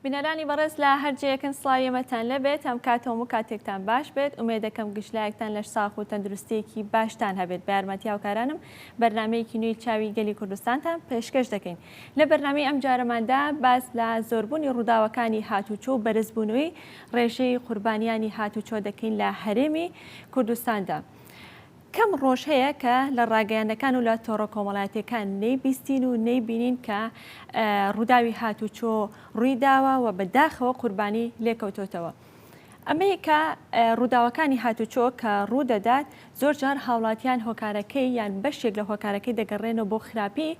بینەرانی بەڕێز لە هەر جێیەکن سڵاوی ئێمەتان لەبێت هەم کات هەموو کاتێکتان باش بێت ئومێ دەکەم گشتلایەکتان لەش ساخ و تەندروستیەکی باشتان هەبێت بارمەتی هاوکارانم بەرنمەیەکی نوێی چاوی گەلی کوردستانتان پێشکەش دەکەین لە بەرنامی ئەم جارەماندا باس لە زۆربوونی ڕووداوەکانی هاتوچۆ و بەرزبوونەوەی ڕێژەی قوربانیانی هاتوچۆ دەکەین لە هەرێمی کوردستاندا. کەم ڕۆژ هەیە کە لە ڕاگەیاندنەکان و لە تۆڕە کۆمەڵاتیەکان نەیبیستین و نەیبینین کە ڕووداوی هاتوچۆ ڕووی داوە و بە داخەوە قوربانی لێکەوتۆتەوە. ئەمەی کە ڕووداوەکانی هاتوچۆ کە ڕوو دەدات زۆر جار هاوڵاتیان هۆکارەکەی یان بەشێک لە هۆکارەکەی دەگەڕێنەوە بۆ خراپی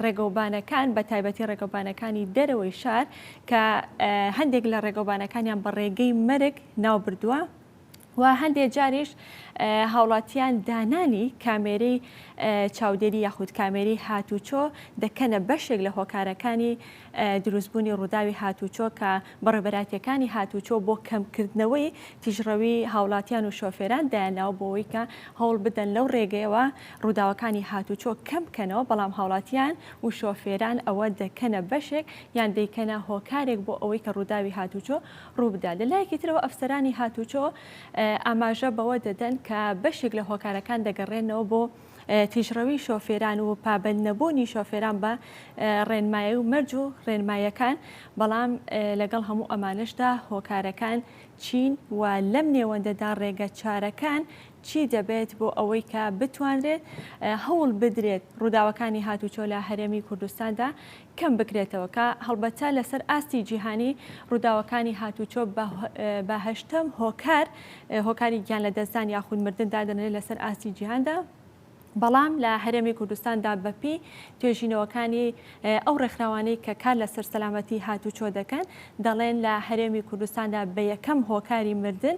ڕێگەوبانەکان بە تایبەتی ڕێگەوبانەکانی دەرەوەی شار کە هەندێک لە ڕێگەوبانەکانیان بە ڕێگەی مەرگ ناو بردووە و هەندێک جاریش هاوڵاتیان دانانی کامێری چاودێری یاخود کامێری هاتوچۆ دەکەنە بەشێک لە هۆکارەکانی دروستبوونی ڕووداوی هاتووچۆ کە بەڕێوبەرایتییەکانی هاتووچۆ بۆ کەمکردنەوەی تیژڕەوی هاوڵاتیان و شۆفێران دایانناوە بۆ ئەوەی کە هەوڵ بدەن لەو ڕێگەیەوە ڕووداوەکانی هاتووچۆ کەم بکەنەوە بەڵام هاوڵاتیان و شۆفێران ئەوە دەکەنە بەشێک یان دەیکەنە هۆکارێک بۆ ئەوەی کە ڕووداوی هاتووچۆ ڕووبدات لە لایەکی ترەوە ئەفسەرانی هاتووچۆ ئاماژە بەوە دەدەن کە بەشێک لە هۆکارەکان دەگەڕێنەوە بۆ تیژڕەوی شۆفێران و پابەند نەبوونی شۆفێران بە ڕێنمایی و مەرج و ڕێنمایەکان بەڵام لەگەڵ هەموو ئەمانشدا هۆکارەکان چین و لەم نێوەندەدا ڕێگە چارەکان چی دەبێت بۆ ئەوەی کە بتوانرێت هەوڵ بدرێت ڕووداوەکانی هاتوچۆ لە هەرێمی کوردستاندا کەم بکرێتەوە کە هەڵبەتە لەسەر ئاستی جیهانی ڕووداوەکانی هاتووچۆ بە هەشتەم هۆکار هۆکاری گیان لەدەستدان یاخود مردن دادەنرێت لەسەر ئاستی جیهاندا بەڵام لە هەرێمی کوردستاندا بەپی توێژینەوەکانی ئەو ڕێکخراوانەی کە کار لەسەر سەلامەتی هاتووچۆ دەکەن دەڵێن لە هەرێمی کوردستاندا بە یەکەم هۆکاری مردن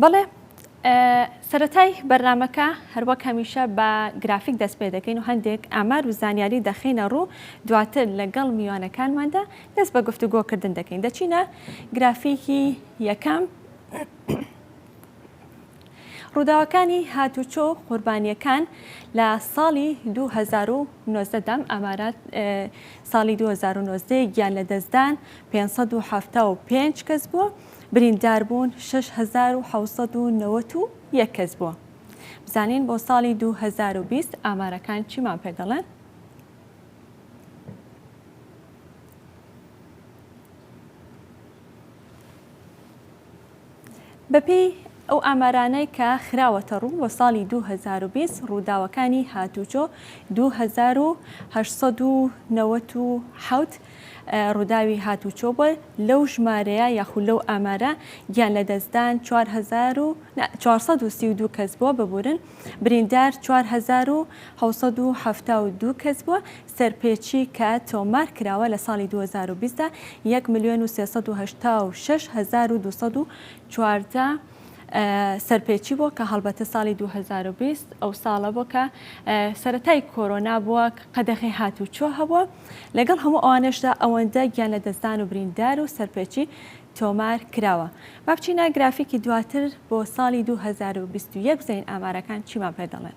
بەڵێ سەتای بەرنمەکە هەروەک هەمیشە بە گرافیک دەست پێ دەکەین و هەندێک ئامار و زانیاری دەخینە ڕوو دواتر لەگەڵ میوانەکانماندا دەست بە گفتوگۆکردن دەکەین دەچینە گرافیکی یەکەم ڕووداوەکانی هاتووچۆ و قوربانییەکان لە ساڵی دوو هەزار و نۆزدە دا، ئامارات ساڵی دوو هەزار و نۆزدە گیان لەدەستدان پێنج سەد و حەفتا و پێنج کەس بووە، برینداربوون شەش هەزار و حەوت سەد و نەوەد و یەک کەس بووە. بزانین بۆ ساڵی دوو هەزار و بیست ئامارەکان چیمان پێ دەڵێن؟ بەپێی ئەو ئامارانەی کە خراوەتەڕوو، بۆ ساڵی دوو هەزار و بیست ڕووداوەکانی هاتووچۆ دوو هەزار و هەشت سەد و نەوەد و حەوت ڕووداوی هاتووچۆ بووە، لەو ژمارەیە یاخود لەو ئامارە گیانلەدەستدان چوار هەزار و چوار سەد و سی و دوو کەس بووە، ببورن بریندار چوار هەزار و حەوت سەد و حەفتا و دوو کەس بووە، سەرپێچی کە تۆمار کراوە لە ساڵی دوو هەزار و بیست دا یەک ملیۆن و سێ سەد و هەشتا و شەش هەزار و دوو سەد و چواردە سەرپێچی بووە کە هەڵبەتە ساڵی دوو هەزار و بیست ئەو ساڵە بووە کە سەرەتای کۆرۆنا بووە قەدەغەی هاتووچۆ هەبووە لەگەڵ هەموو ئەوانەشدا ئەوەندە گیانلەدەستدان و بریندار و سەرپێچی تۆمار کراوە با بچینە گرافیکی دواتر بۆ ساڵی دوو هەزار و بیست و یەک بزانین ئامارەکان چیمان پێ دەڵێن.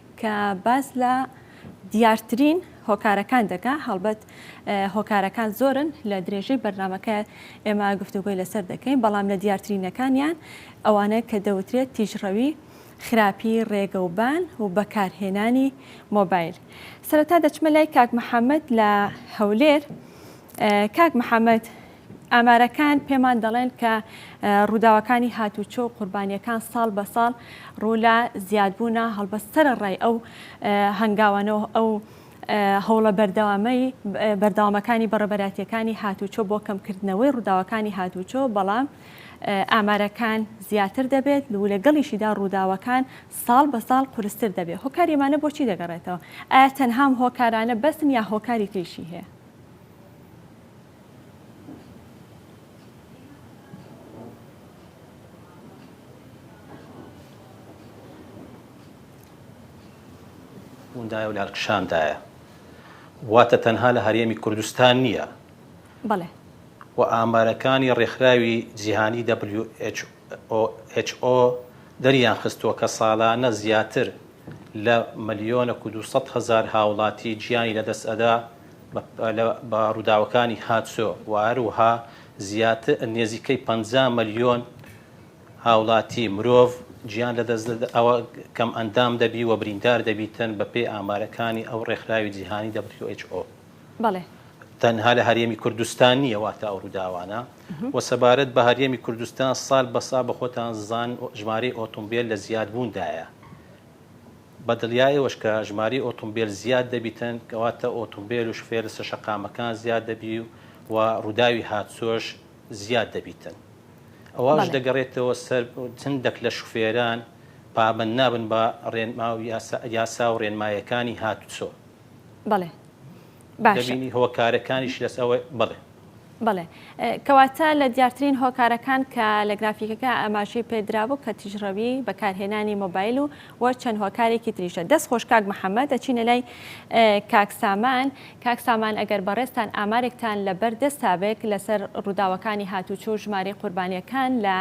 کە باس لە دیارترین هۆکارەکان دەکا، هەڵبەت هۆکارەکان زۆرن لە درێژەی بەرنامەکە ئێمە گفتوگۆی لەسەر دەکەین، بەڵام لە دیارترینەکانیان ئەوانە کە دەوترێت تیژڕەوی، خراپی رێگەوبان و بەکارهێنانی مۆبایل. سەرەتا دەچمە لای کاک محەمەد لە هەولێر، کاک محەمەد ئامارەکان پێمان دەڵێن کە ڕووداوەکانی هاتوچۆ و قوربانیەکان ساڵ بە ساڵ ڕوولا زیادبوونە هەڵبەست سەرەڕای ئەو هەنگاوانەوە ئەو هەوڵە بەردەوامەی بەردەوامەکانی بەڕێبەرایەتیەکانی هاتوچۆ بۆ کەمکردنەوەی ڕووداوەکانی هاتوچۆ بەڵام ئامارەکان زیاتر دەبێت و لەگەڵیشیدا ڕووداوەکان ساڵ بە ساڵ قورستر دەبێت هۆکاری ئەمانە بۆچی دەگەڕێتەوە ئایا تەنهام هۆکارانە بەسن یا هۆکاری تریشی هەیە دایە و لالکشاندایە واتە تەنها لە هەرێمی کوردستان نییە بەڵێ و ئامارەکانی ڕێکخراوی جیهانی WHO دەریان خستووە کە ساڵانە زیاتر لە ملیۆنە و 200 هزار هاوڵاتی گیانی لەدەست ئەدا بە ڕووداوەکانی هاتسۆ و هەروەها نێزیکەی پەنجا مەلیۆن هاوڵاتی مرۆڤ گیان لەدەست ئەوە کەمئەندام دەبی و بریندار دەبیتن بەپێی ئامارەکانی ئەو ڕێکخراوی جیهانی WHO تەنها لە هەرێمی کوردستان نییە واتە ئەو ڕووداوانە و سەبارەت بە هەرێمی کوردستان سال بەسا بە خۆتان زان ژمارەی ئۆتۆمبیل لە زیادبووندایە. بەدڵیای ئەوەش کە ژمارەی ئۆتومبێل زیاد دەبیتن کەواتە ئۆتومبێل و شفێر لەسەر شەقامەکان زیاد دەبی و ڕوداوی هاتسۆش زیاد دەبیتن ئەوەش دەگەڕێتەوە سەر چندەک لە شفێران پابەند نابن بە ڕێنماو یاسا و ڕێنمایەکانی هاتسۆ. بەڵێ باشە. دەبینی هۆکارەکانیش لەس ئەوە بەڵێ. بەڵێ کەواتە لە دیارترین هۆکارەکان کە لە گرافیکەکە ئاماژەی پێدرابوو کە تیژڕەوی بەکارهێنانی مۆبایل و وە چەند هۆکارێکی تریشە دەست خۆش کاک محەممەد ئەچینە لای کاک سامان کاک سامان ئەگەر بەڕێستان ئامارێکتان لە بەر دەستابێک لەسەر ڕووداوەکانی هاتوچۆ و ژمارەی قوربانیەکان لە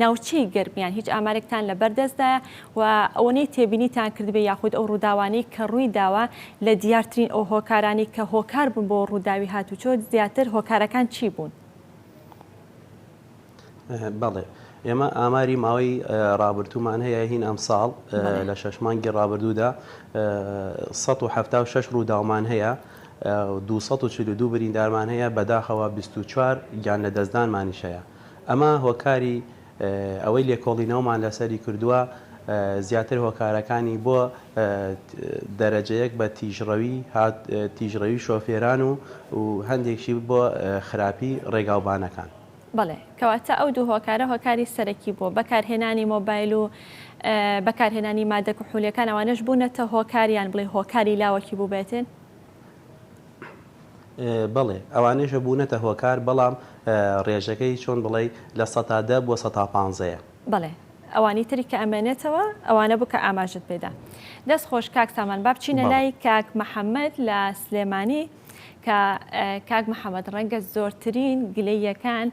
ناوچەی گەرمیان هیچ ئامارێکتان لە بەردەستدایە و ئەوەنەی تێبینیتان کردبێ یاخود ئەو ڕووداوانەی کە ڕووی داوە لە دیارترین ئەو هۆکارانەی کە هۆکار بوون بۆ ڕووداوی هاتووچۆ زیاتر هۆکارەکان چی بوون؟ بەڵێ ئێمە ئاماری ماوەی ڕابردوومان هەیە هین ئەمساڵ لە شەش مانگی ڕابردوودا 1970 ڕووداومان هەیە 242 بریندارمان هەیە بەداخەوە 24 گیان لە دەستدانمانیش هەیە ئەمە هۆکاری ئەوەی لێکۆڵینەوەمان لەسەری کردووە زیاتر هۆکارەکانی بۆ دەرەجەیەک بە تیژڕەوی هات تیژڕەوی شۆفێران و هەندێکشی بۆ خراپی ڕێگاوبانەکان. بەڵێ کەواتە ئەو دوو هۆکارە هۆکاری سەرەکی بووە بەکارهێنانی مۆبایل و بەکارهێنانی مادە کحولیەکان ئەوانەش بوونەتە هۆکار یان بڵێ هۆکاری لاوەکی بووبێتێن؟ بەڵێ ئەوانەیش بوونەتە هۆکار بەڵام ڕێژەکەی چۆن بڵێی لە سەتا دە بۆ سەتا پانزەیە. بەڵێ ئەوانی تری کە ئەمێنێتەوە ئەوانە بوو کە ئاماژت پێ دا. دەست خۆش کاک سامان با بچینە لای کاک محمد لە سلێمانی کە کاک محمد ڕەنگە زۆرترین گلەییەکان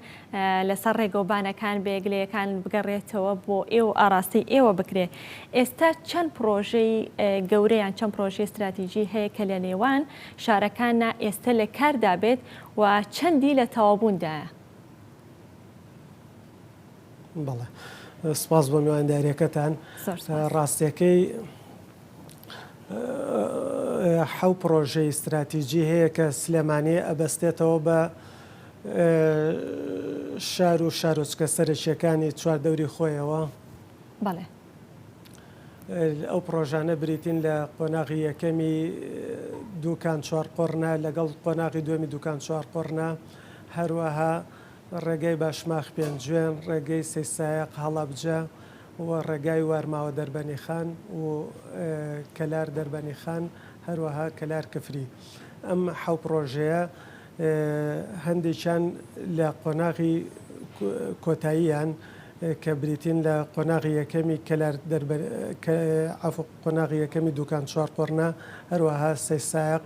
لەسەر ڕێگەوبانەکان بەیەکلەیەکان بگەڕێتەوە بۆ ئێوە و ئاڕاستەی ئێوە بکرێ. ئێستا چەند پڕۆژەی گەورە یان چەند پڕۆژەی ستراتیجی هەیە کە لەنێوان شارەکاننا ئێستا لەکاردا بێت و چەندی لە تەواوبووندایە؟ بەڵێ. سوپاس بۆ میواندارییەکەتان. زۆر سوپاس. ڕاستییەکەی حەو پڕۆژەی ستراتیجی هەیە کە سلێمانی ئەبەستێتەوە بە شار و شارۆچکە سەرەکییەکانی چواردەوری خۆیەوە. بەڵێ. ئەو پڕۆژانە بریتین لە قۆناغی یەکەمی دوکان چوارقۆڕنە لەگەڵ قۆناغی دووەمی دوکان چوارقۆڕنە، هەروەها ڕێگای باشماخ پێنجوێن، ڕێگەی سەیسایەق هەڵەبجە و ڕێگای وارماوە دەربەنیخان و کەلار دەربەنیخان، هەروەها کەلار کفری. ئەم حەو پڕۆژەیە هەندێکیان لە قۆناغی کۆتاییان کە بریتین لە قۆناغی یەکەمی کەلار عەفو قۆناغی یەکەمی دوکان چوار قۆڕنە هەروەها سەی سایەق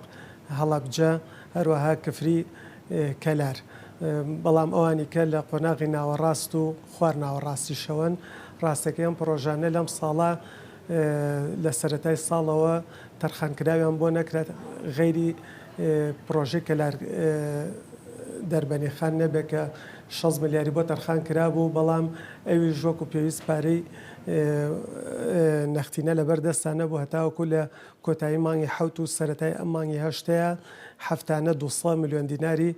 هەڵەبجە هەروەها کفری کەلار بەڵام ئەوانی کە لە قۆناغی ناوەڕاست و خوار ناوەڕاستیشەوەن ڕاستەکەی ئەم پڕۆژانە لەم ساڵە لە سەرەتای ساڵەوە تەرخانکراویان بۆ نەکرا غەیری پرۆژەی کەلار دەربەنی خان نەبێت کە شەست ملیاری بۆ تەرخان کرابوو بەڵام ئەویش وەکو پێویست پارەی نەختینە لەبەر دەستان نەبوو هەتاوەکو لە کۆتایی مانگی حەوت و سەرەتای ئەم مانگی هەشتەیا هەفتانە دوو سەد ملیۆن دیناری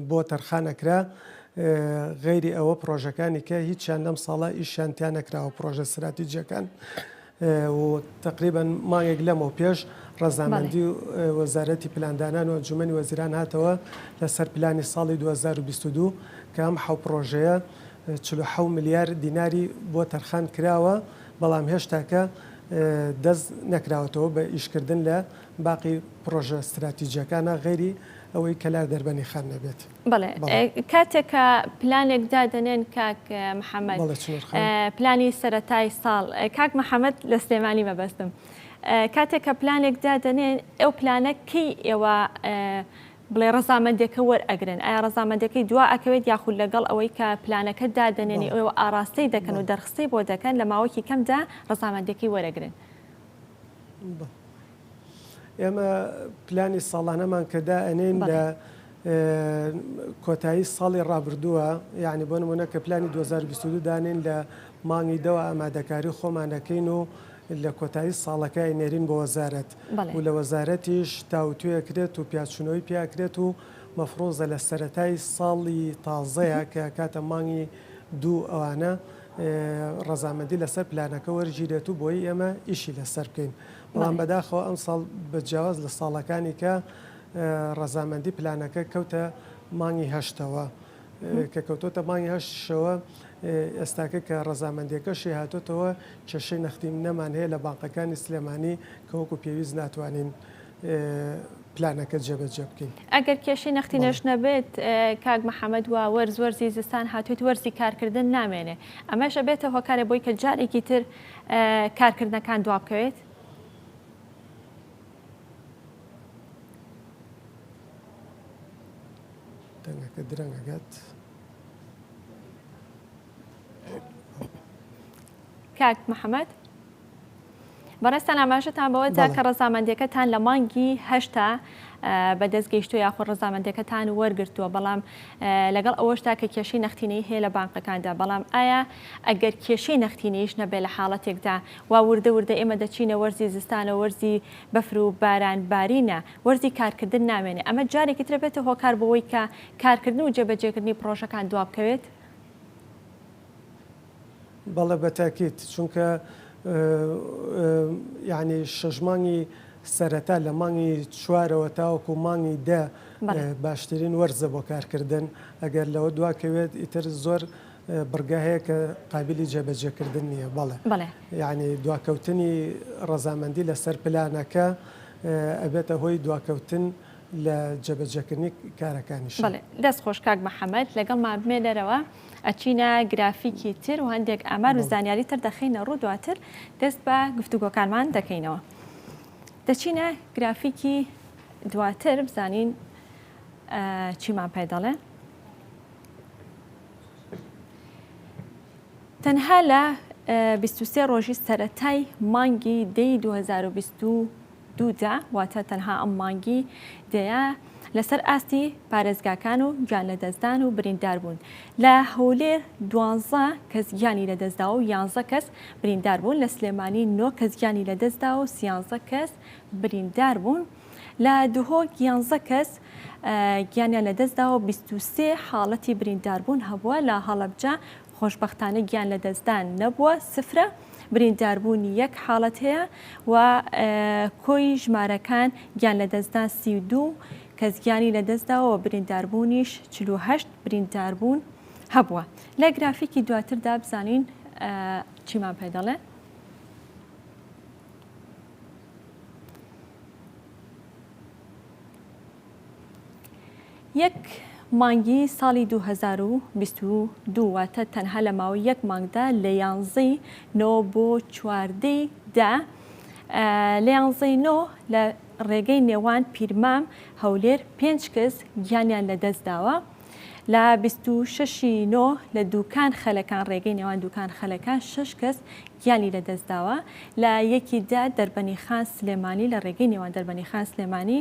بۆ تەرخان ئەکرا غەیری ئەوە پرۆژەکانی کە هیچیان لەم ساڵە ئیشیان تیا نەکراوە پرۆژە ستراتیجیەکان و تەقریبەن مانگێک لەمەو پێش ڕەزامەندی وەزارەتی پلاندانان و ئەنجومەنی وەزیران هاتەوە لەسەر پلانی ساڵی دوو هەزار و بیست و دوو کە ئەم حەو پڕۆژەیە چل و حەو ملیار دیناری بۆ تەرخان کراوە بەڵام هێشتاکە دەست نەکراوەتەوە بە ئیشکردن لە باقی پڕۆژە ستراتیجیەکانە غەیری ئەوەی کەلار دەربەنیخان نەبێت. بەڵێ کاتێک کە پلانێک دادەنێن کاک محەممەد پلانی سەتای ساڵ کاک محەممەد لە سلێمانی مەبەستم کاتێک کە پلانێک دادەنێن ئەو پلانە کەی ئێوە بڵێ ڕزامەندەکە وەرئەگرن ئایا ڕزامەندەکەی دوا ئەکەوێت یاخود لەگەڵ ئەوەی کە پلانەکە دادەنێنی ئەو ئاراستەی دەکەن و دەرخستی بۆ دەکەن لە ماوەکی کەمدا ڕزامەندەکەی وەرەگرن ئێمە پلانی ساڵانەمان کە دائەنێین لە کۆتایی ساڵی ڕابردووە یعنی بۆ نمونە کە پلانی 2022 دانین لە مانگی دەوە ئامادەکاری خۆمانەکەین و لە کۆتایی ساڵەکەی نێرین بۆ وەزارەت و لە وەزارەتیش تاوتوێکرێت و پیاچونەوەی پیاکرێت و مەفرۆزە لە سەتای ساڵی تازەیە کە کاتە مانگی دوو ئەوانە ڕەزامەندی لەسەر پلانەکە وەرگیرێت و بۆی ئێمە ئیشی لەسەر بکەین بەڵام بەداخەوە ئەمساڵ بە جیاواز لە ساڵەکانی کە ڕەزامەندی پلانەکە کەوتە مانگی هەشتەوە کە کەوتۆتە مانگی هەشتشەوە ئێستاکە کە ڕەزامەندەکەشی هاتۆتەوە کێشەی نەختی نەمان هەیە لە بانقەکانی سلێمانی کە وەکو پێویست ناتوانین پلانەکە جێبەجێ بکەین ئەگەر کێشی نەختی نەش نەبێت کاک محەممەد وە وەرز وەرزی زستان هاتوێت وەرزی کارکردن نامێنێ ئەمەشە بێتە هۆکارە بۆی کە جارێکی تر کارکردنەکان دوابکەوێت. دەنگەکە درەنگەگەت. کاک محەممەد بەڕێستان ئاماژەتان بەوەدا کە ڕەزامەندەکەتان لە مانگی هەشتا بە دەست گەیشتووە یاخود ڕەزامەندیەکەتان وەرگرتووە بەڵام لەگەڵ ئەوەشدا کە کێشەی نەختینەی هەیە لە بانقەکاندا بەڵام ئایا ئەگەر کێشەی نەختینەیش نەبێت لە حاڵەتێکدا وا وردە وردە ئێمە دەچینە وەرزی زستانە وەرزی بەفر و باران بارینە وەرزی کارکردن نامێنێ ئەمە جارێکی ترە بێتە هۆکار بۆەوەی کە کارکردن و جێبەجێکردنی پرۆژەکان دوابکەوێت؟ بەڵێ بە تەئکید چونکە یانی شەش مانگی سەرەتا لە مانگی چوارەوە تاوەکو مانگی دە باشترین وەرزە بۆ کارکردن ئەگەر لەوە دواکەوێت ئیتر زۆر بڕگە هەیە کە قابلی جێبەجێکردن نییە بەڵێ یعنی دواکەوتنی ڕەزامەندی لەسەر پلانەکە ئەبێتە هۆی دواکەوتن لە جێبەجێکردنی کارەکانیش دەست خۆش کاک محەممەد لەگەڵ مابمێ دەرەوە. ئەچینە گرافیکی تر و هەندێک ئامار و زانیاری تر دەخینە ڕوو دواتر دەست بە گفتوگۆکانمان دەکەینەوە دەچینە گرافیکی دواتر بزانین چیمان پێ دەڵێ تەنها لە 23 ڕۆژی سەتای مانگی دەی 2020 دووجا، واتە تەنها ئەم مانگی دەیە لەسەر ئاستی پارێزگاکان و گیانلەدەستدان و برینداربوون، لە هەولێر دوانزە کەس گیانی لەدەستداوە و یانزە کەس برینداربوون، لە سلێمانی نۆ کەس گیانی لەدەستداوە و سیانزە کەس برینداربوون، لە دهۆک یانزە کەس گیانیان لەدەستداوە و بیست و سێ حاڵەتی برینداربوون هەبووە، لە هەڵەبجە خۆشبەختانە گیان لەدەستدان نەبووە، سفرە، برینداربوونی یەک حاڵەت هەیە و کۆی ژمارەکان گیان لەدەستدان سی و دوو کەس گیانی لەدەستداوە و برینداربوونیش چل و هەشت برینداربوون هەبووە. لە گرافیکی دواتردا بزانین چیمان پێ دەڵێ. یەک مانگی ساڵی دوو هەزار و بیست و دوو واتە تەنها لە ماوەی یەک مانگدا لە یانزەی نۆ بۆ چواردەی دە لە یانزەی نۆ لە ڕێگەی نێوان پیرمام هەولێر پێنج کەس گیانیان لە دەست داوە لە بیست و شەشی نۆ لە دووکان خەلەکان ڕێگەی نێوان دووکان خەلەکان شەش کەس گیانی لە دەست داوە لە یەکی دا دەربەنی خان سلێمانی لە ڕێگەی نێوان دەربەنی خان سلێمانی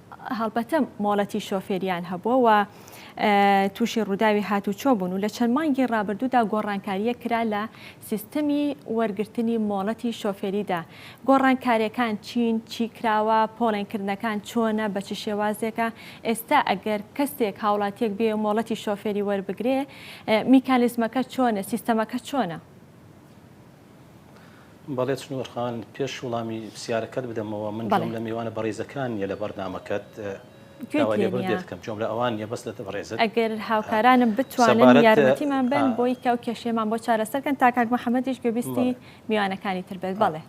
هەڵبەتە مۆڵەتی شۆفێرییان هەبووە و تووشی ڕووداوی هاتوچۆ بوون و لە چەند مانگی ڕابردوودا گۆڕانکارییەک کرا لە سیستمی وەرگرتنی مۆڵەتی شۆفێریدا، گۆڕانکارییەکان چین، چی کراوە، پۆڵێنکردنەکان چۆنە، بە چ شێوازێکە، ئێستا ئەگەر کەسێک، هاوڵاتییەک بێ مۆڵەتی شۆفێری وەربگرێ میکانیزمەکە چۆنە، سیستەمەکە چۆنە؟ بەڵێ چنوور خان پێش وڵامی پرسیارەکەت بدەمەوە من جۆم لە میوانە بەڕیزەکان نیە لە بەرنامەکەت دەکەم جۆم لە ئەوان نیە بەس لە بەڕێزت ئەگەر هاوکارانم بتوانن یارمەتیمان بن بۆی کە و کێشێمان بۆ چارەسەرکەن تا کاک محەممەدیش گوێبیستی میوانەکانی تر بێت بەڵێ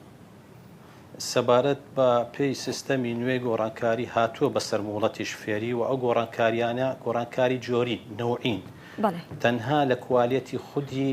سەبارەت بە پێی سیستەمی نوێی گۆڕانکاری هاتووە بەسەر موڵەتیش فێری و ئەو گۆڕانکاریانە گۆڕانکاری جۆری نەوعین تەنها لە کوالەتی خودی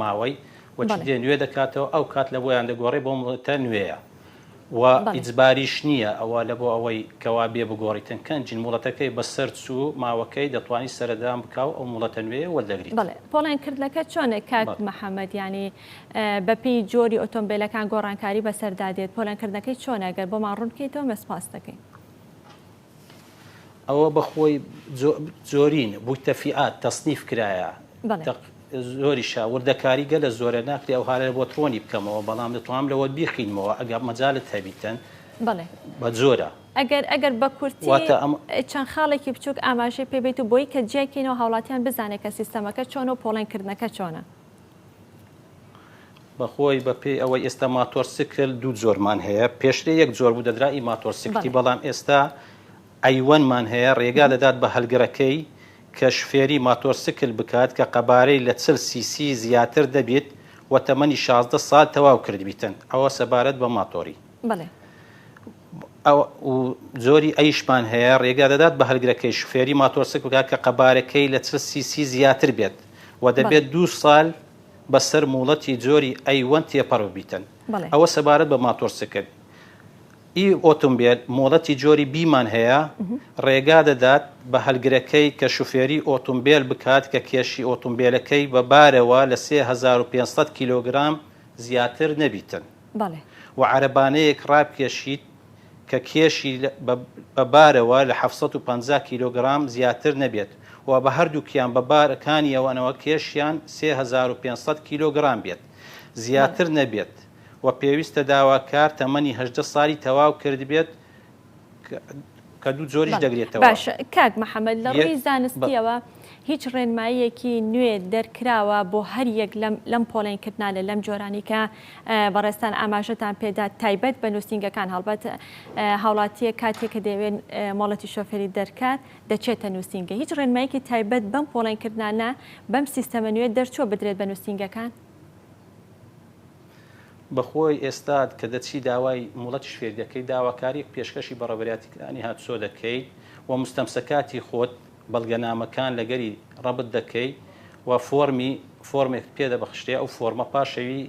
ماوەی و چ دێ نوێ دەکاتەوە ئەو کات لە بۆیان دەگۆڕێ بۆ مڵەتە نوێیە و ئیجباریش نییە ئەوە لە بۆ ئەوەی کەوا بێ بگۆڕیتن کەن جن مڵەتەکەی بە سەر چوو ماوەکەی دەتوانی سەردان بکا و ئەو مڵەتە نوێیە وەردەگریت. بەڵێ پۆڵێن کردنەکە چۆنێک کاک محمد یانی بە پێی جۆری ئۆتۆمبێلەکان گۆڕانکاری بەسەردا دێت پۆلێن کردنەکەی چۆنە گەر بۆمان ڕوون بکەیتەوە مە سپاست دەکەین. ئەوە بەخۆی زۆرین بووی تەفیات تەصنیف کرایە زۆریشە وردەکاری گەلە زۆرە ناکری ئەو هاە بۆ ترۆنی بکەمەوە بەڵام دەتوانم لەوە بیخینمەوە ئەگە مەجالت هەبیتن بە زۆرە ئەگەر ئەگەر بە کورتی چەند خاڵێکی بچووک ئاماژەی پێبیت و بۆی کە جیاکەینەوە هاوڵاتیان بزانێت کە سیستەمەکە چۆن و پۆڵێن کردنەکە چۆنە. بەخۆی بە پێی ئەوەی ئێستا ماتۆر سکل دوو جۆرمان هەیە پێشترێ یەک جۆر بوو دەدرا ئی ماتۆر سکتی بەڵام ئێستا ئەیوەنمان هەیە ڕێگا دەدات بە هەلگرەکەی کە شفێری ماتۆر سکل بکات کە قەبارەی لە چل سی سی زیاتر دەبیت و تەمەنی شازدە سال تەواو کردبیتن ئەوە سەبارەت بە ماتۆری بەڵێ. ئەو و جۆری ئەیشمان هەیە ڕێگا دەدات بە هەلگرەکەی شوفێری ماتۆرسک بکات کە قەبارەکەی لە چل سی سی زیاتر بێت و دەبێت دوو سال بەسەر موڵەتی جۆری ئەی وەن تێپەڕ ببیتن. بەڵێ. ئەوە سەبارەت بە ماتۆرسکل. ئی ئۆتۆمبێل مۆڵەتی جۆری بی مان هەیە ڕێگا دەدات بە هەلگرەکەی کە شوفێری ئۆتۆمبێل بکات کە کێشی ئۆتۆمبێلەکەی بە بارەوە لە سێ هەزار و پێنج سەد کیلۆگرام زیاتر نەبیتن. بەڵێ. و عەرەبانەیەک ڕابکێشیت کە کێشی بە بارەوە لە حەفت سەد و پەنجا کیلۆگرام زیاتر نەبێت و بە هەردووکیان بە بار کانیەوەنەوە کێشیان سێ هەزار و پێنج سەد کیلۆگرام بێت زیاتر نەبێت و پێویستە داواکار تەمەنی هەژدە سالی تەواو کردبێت کە دوو جۆریش دەگرێتەوە. باشە کاک محەمەد لە ڕووی زانستییەوە هیچ ڕێنماییەکی نوێ دەرکراوە بۆ هەر یەک لەم لەم پۆڵێن کردنا لە لەم جۆرانەی کە بەڕێزتان ئاماژەتان پێدا تایبەت بە نووسینگەکان هەڵبەت هاوڵاتییە کاتێک کە دەیەوێت مۆڵەتی شۆفێری دەرکات دەچێتە نووسینگە هیچ ڕێنماییەکی تایبەت بەم پۆڵێن کردنانە بەم سیستەمە نوێ دەرچووە بدرێت بە نووسینگەکان؟ بەخۆی ئێستات کە دەچی داوای موڵەتیش فێر دەکەیت، داواکاریەک پێشکەشی بە ڕێبەرایەتی کلانی هاتسۆ دەکەیت و موستەمسەکاتی خۆت، بەڵگەنامەکان، لەگەری ڕەبت دەکەی و فۆرمی، فۆرمێکت پێ دەبەخشرێ، ئەو فۆرمە پاش ئەوی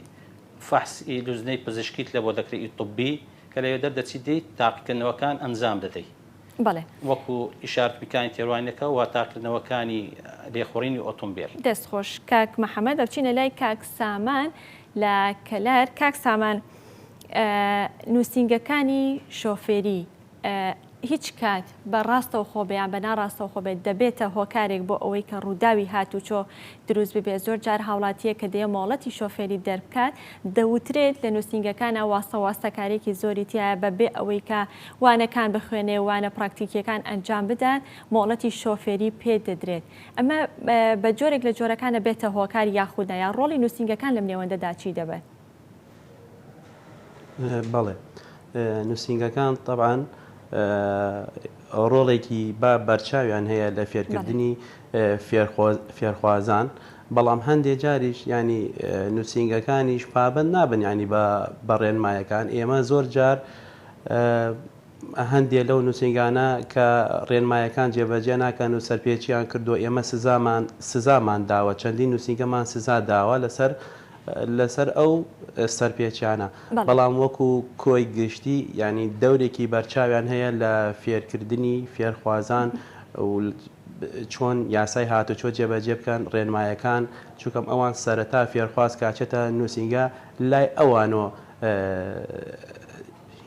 فەحس ی لوجنەی پزیشکیت لە بۆ دەکرە ی طبی کە لەوێ دەردەچیت دێیت تاقیکردنەوەکان ئەنجام دەدەی. بەڵێ. وەکو ئیشارەت میکانی تێڕوانینەکە واتاکردنەوەکانی لێخوڕینی ئۆتۆمبێل. دەست خۆش کاک محمد ئەچینە لای کاک سامان لە کەلار کاک سامان نوسینگەکانی شۆفێری هیچ کات بە ڕاستەوخۆ بێ یان بە ناڕاستەوخۆ بێت دەبێتە هۆکارێک بۆ ئەوەی کە ڕووداوی هاتوچۆ دروست ببێت زۆر جار هاوڵاتیە کە دێ مۆڵەتی شۆفێری دەربکات دەوترێت لە نوسینگەکانە واسە واستەکارێکی زۆری تایە بە بێ ئەوەی کە وانەکان بخوێنێ و وانە پراکتیکییەکان ئەنجام بدات، مۆڵەتی شۆفێری پێ دەدرێت. ئەمە بە جۆرێک لە جۆرەکانە بێتە هۆکار یاخود نا، یان ڕۆڵی نووسینگەکان لەم نێوەندەدا چی دەبێت؟ بەڵێ، نووسینگەکان تەبعەن ڕۆڵێکی با بەرچاویان هەیە لە فێرکردنی فێرخوازان، بەڵام هەندێ جاریش یانی نووسینگەکانیش پابەند نابن یانی بە ڕێنمایەکان. ئێمە زۆر جار هەندێ لەو نووسینگانە کە ڕێنمایەکان جێبەجێ ناکەن و سەرپێچییان کردووە، ئێمە سزامان سزامان داوە، چەندین نووسینگەمان سزا داوە لەسەر لەسەر ئەو سەرپێچیانە، بەڵام وەکوو کۆی گشتی یانی دەورێکی بەرچاویان هەیە لە فێرکردنی فێرخوازان و چۆن یاسای هاتوچۆ جێبەجێ بکەن، ڕێنمایەکان چونکەم ئەوان سەرەتا فێرخواز کە ئەچێتە نووسینگە لای ئەوانۆ،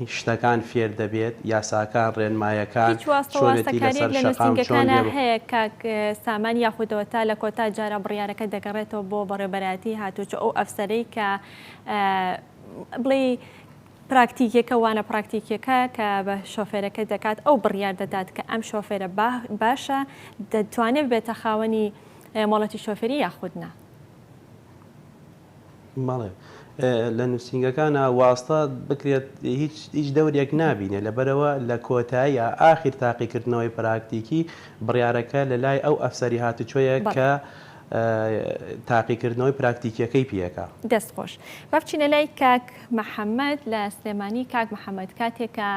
شتەکان فێر دەبێت یاساکان ڕێنمایەکان هیچ واستە چۆنێتی واستەکاریەک لەسەر لە شەقام چۆن نوسینگەکانا لێ هەیە کاک سامان یاخودەوە تا لە کۆتا جارا بڕیارەکە دەگەڕێتەوە بۆ بەڕێوبەرایەتی هاتوچۆ ئەو ئەفسەرەی کە بڵێی پراکتیکیەکە وانە پراکتیکیەکە کە بە شۆفێرەکە دەکات ئەو بڕیار دەدات کە ئەم شۆفێرە با باشە دەتوانێت ببێتە خاوەنی مۆڵەتی شۆفێری یاخود نا. بەڵێ لە نووسینگەکانا واستە بکرێت هیچ دەورێک نابینێ لەبەرەوە لە کۆتاییا ئاخیر تاقیکردنەوەی پراکتیکی بڕیارەکە لە لای ئەو ئەفسەری هاتوچۆیە کە تاقیکردنەوەی پراکتیکیەکەی پێکا. دەست خۆش. با بچینە لای کاک محەمەد لە سلێمانی، کاک محەمەد کاتێک کە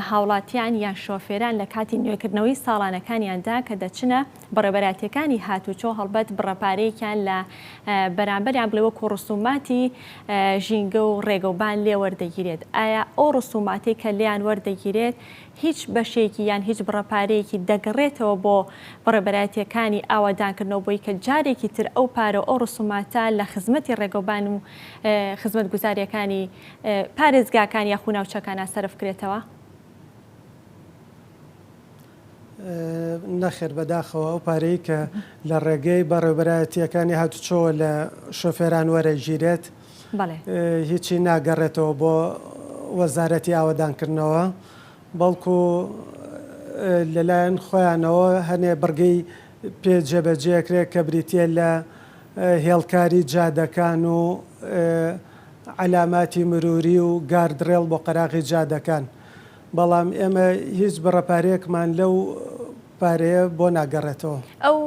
هاوڵاتیان یان شۆفێران لە کاتی نوێکردنەوەی ساڵانەکانیاندا کە دەچنە. بەڕێوەبەرایەتییەکانی هاتووچۆ هەڵبەت بڕە پارەیەکیان لە بەرامبەریان بڵێ وەکو ڕسوماتی ژینگە و ڕێگەوبان لێ وەردەگیرێت، ئایا ئەو ڕسوماتەی کە لێیان وەردەگیرێت هیچ بەشێکی یان هیچ بڕە پارەیەکی دەگەڕێتەوە بۆ بەڕێوەبەرایەتییەکانی ئاوەدانکردنەوە بۆی کە جارێکی تر ئەو پارە و ئەو ڕسوماتە لە خزمەتی ڕێگەوبان و خزمەتگوزارییەکانی پارێزگاکان یاخو ناوچەکانا سەرف کرێتەوە؟ نەخێر بەداخەوە ئەو پارەی کە لە ڕێگەی بەڕێوبەرایەتییەکانی هاتوچۆوە لە شۆفێران وەرەگیرێت هیچی ناگەڕێتەوە بۆ وەزارەتی ئاوەدانکردنەوە بەڵکو لەلایەن خۆیانەوە هەنێ بڕگەی پێ جێبەجێکرێت کە بریتە لە هێڵکاری جادەکان و عەلاماتی مروری و گاردڕێڵ بۆ قەراغی جادەکان. بەڵام ئێمە هیچ بڕە پارەیەکمان لەو پارەیە بۆ ناگەڕێتەوە. ئەو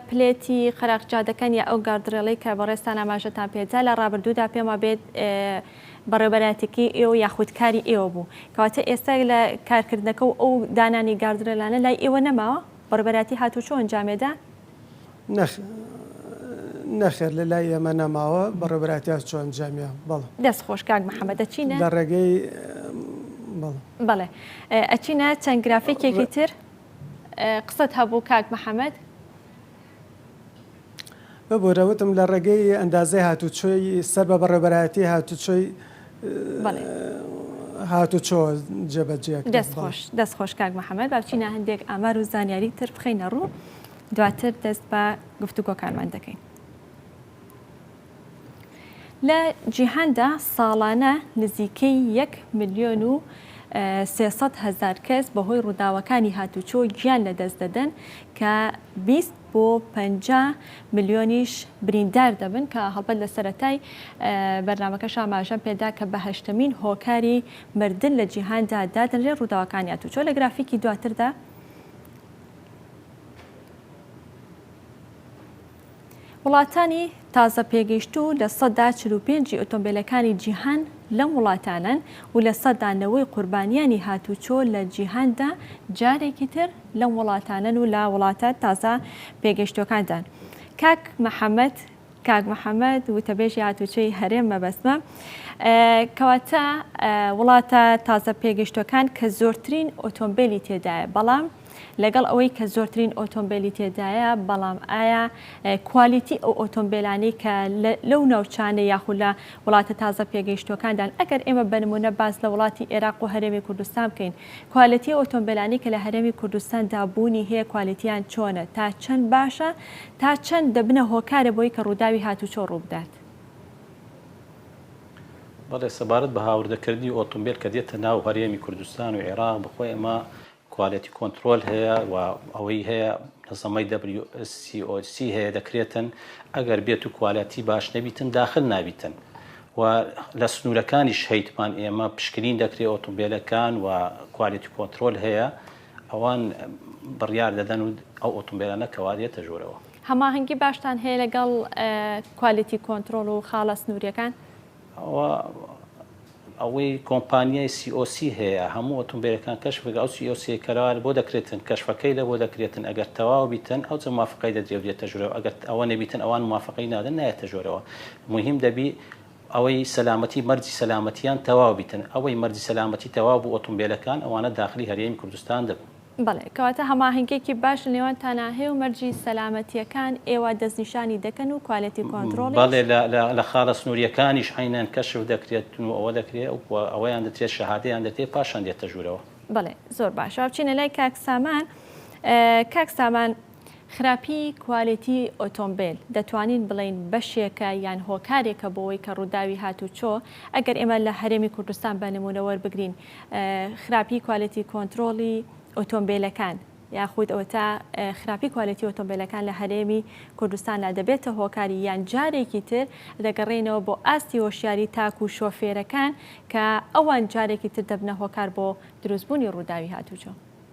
پلێتی قەراغجادەکەن یا ئەو گاردڕێڵەی کە بەڕێزتان ئاماژەتان پێ دا لە ڕابردوودا پێم وابێت بەڕێوەبەرایەتیەکەی ئێوە یا خود کاری ئێوە بوو کەواتە ئێستا لە کارکردنەکە و ئەو دانانی گاردڕێلانە لای ئێوە نەماوە؟ بەڕێوەبەرایەتی هاتوچۆ ئەنجامێدا؟ نەخێر لە لای ئێمە نەماوە بەڕێبراتی ئەس چۆن جامیا بەڵ دەست خۆش کاک محەممەد دەچینە لە ڕێگەی بەڵێ ئەچینە چەند گرافێکێکی تر قسەت هەبوو کاک محەممەد ببوورەوتم لە ڕێگەی ئەندازەی هاتوچۆی سەر بە بەڕێبەرایەتی هاتوچۆی هاتوچۆ جێبەجێ دەستخۆش دەستخۆش کاک محەممەد باچینە هەندێک ئامار و زانیاری تر بخینە ڕوو دواتر دەست بە گفتوگۆکانمان دەکەین. لە جیهاندا ساڵانە نزیکەی یەک ملیۆن و سێسەد هەزار کەس بەهۆی ڕووداوەکانی هاتوچۆ گیان لەدەست دەدەن کە بیست بۆ پەنجا ملیۆنیش بریندار دەبن، کە هەڵبەت لە سەرەتای بەرنامەکەش ئاماژەم پێدا کە بە هەشتەمین هۆکاری مردن لە جیهاندا دادەنرێت، ڕووداوەکانی ئاتوچۆ لە گرافیکی دواتردا. وڵاتانی. تازە پێگەیشتوو لە سەدا چل و پێنج ی ئۆتۆمبێلەکانی جیهان لەم وڵاتانەن و لە سەدا نەوەی قوربانیانی هاتووچۆ لە جیهاندا جارێکی تر لەم وڵاتانەن و لە وڵاتە تازە پێگەیشتووەکاندان کاک محەمەد کاک محەمەد وتەبێژی هاتووچۆی هەرێم مەبەستمە کەواتە وڵاتە تازە پێگەیشتووەکان کە زۆرترین ئۆتۆمبێلی تێدایە بەڵام لەگەڵ ئەوەی کە زۆرترین ئۆتۆمبێلی تێدایە بەڵام ئایا کوالیتی ئەو ئۆتۆمبێلانەی کە لەو ناوچانە یاخود لە وڵاتە تازە پێگەیشتوەکاندان ئەگەر ئێمە بەنمونە باز لە وڵاتی ئێراق و هەرێمی کوردستان بکەین کوالیتی ئۆتۆمبێلانی کە لە هەرێمی کوردستان دابوونی هەیە کوالیتیان چۆنە تا چەند باشە تا چەند دەبنە هۆکارە بۆی کە ڕووداوی هاتوچۆ ڕووبدات بەڵێ سەبارەت بە هاوردەکردنی ئۆتۆمبیل کە دێتە ناو هەرێمی کوردستان و عێراق بخۆ ئێمە کوالێتی کۆنتڕۆل هەیە و ئەوەی هەیە نەزەمەی WSCOC هەیە دەکرێتن ئەگەر بێت و کوالێتی باش نەبیتن داخل نابیتن و لە سنوورەکانی شەیتمان ئێمە پشکنین دەکرێت ئۆتۆمبیلەکان و کوالێتی کۆنترۆل هەیە ئەوان بڕیار دەدەن و ئەو ئۆتۆمبیلە نەکەوارێتە ژۆرەوە هەماهەنگی باشتان هەیە لەگەڵ کوالێتی کۆنترۆل و خاڵە سنووریەکان؟ ئەوە ئەوەی کۆمپانیای سی ئۆ سی هەیە هەموو ئۆتۆمبێلەکان کەشفەکە ئەو سی ئۆ سی کەرا لە بۆ دەکرێتن کەشفەکەی لە بۆ دەکرێتن ئەگەر تەواو بیتن ئەو جە موافقەی دەدرێ و دێتە ژورەوە ئەگەر ئەوە نەبیتن ئەوان موافقەی نادەن نایەتە ژۆرەوە موهیم دەبی ئەوەی سەلامەتی مەرجی سەلامەتیان تەواو بیتن ئەوەی مەرجی سەلامەتی تەواو بوو ئۆتۆمبێلەکان ئەوانە داخلی هەرێمی کوردستان دەبن. بەڵێ، کەواتە هەماهەنگیەکی باش لە نێوان تاناهی و مەرجی سەلامەتیەکان ئێوە دەستنیشانی دەکەن و کوالێتی کۆنتڕۆڵیش؟ بەڵێ، لە خاڵە سنوریەکانیش عەینەن کەشف دەکرێتن و ئەوە دەکرێ و ئەوەیان دەترێ شەهادەیان دەکرێ پاشان دێتە ژورەوە. بەڵێ، زۆر باشە با بچینە لای کاک سامان، کاک سامان خراپی کوالێتی ئۆتۆمبێل دەتوانین بڵێین بەشێکە یان هۆکارێکە بۆوەی کە ڕووداوی هاتوچۆ ئەگەر ئێمە لە هەرێمی کوردستان بە نموونە وەربگرین خراپی کوالێتی کۆنترۆڵی ئۆتۆمبێلەکان یاخود ئەوەتا خراپی کوالێتی ئۆتۆمبێلەکان لە هەرێمی کوردستاندا دەبێتە هۆکاری یان جارێکی تر دەگەڕێنەوە بۆ ئاستی هۆشیاری تاک و شۆفێرەکان کە ئەوان جارێکی تر دەبنە هۆکار بۆ دروستبوونی ڕووداوی هاتوچۆ.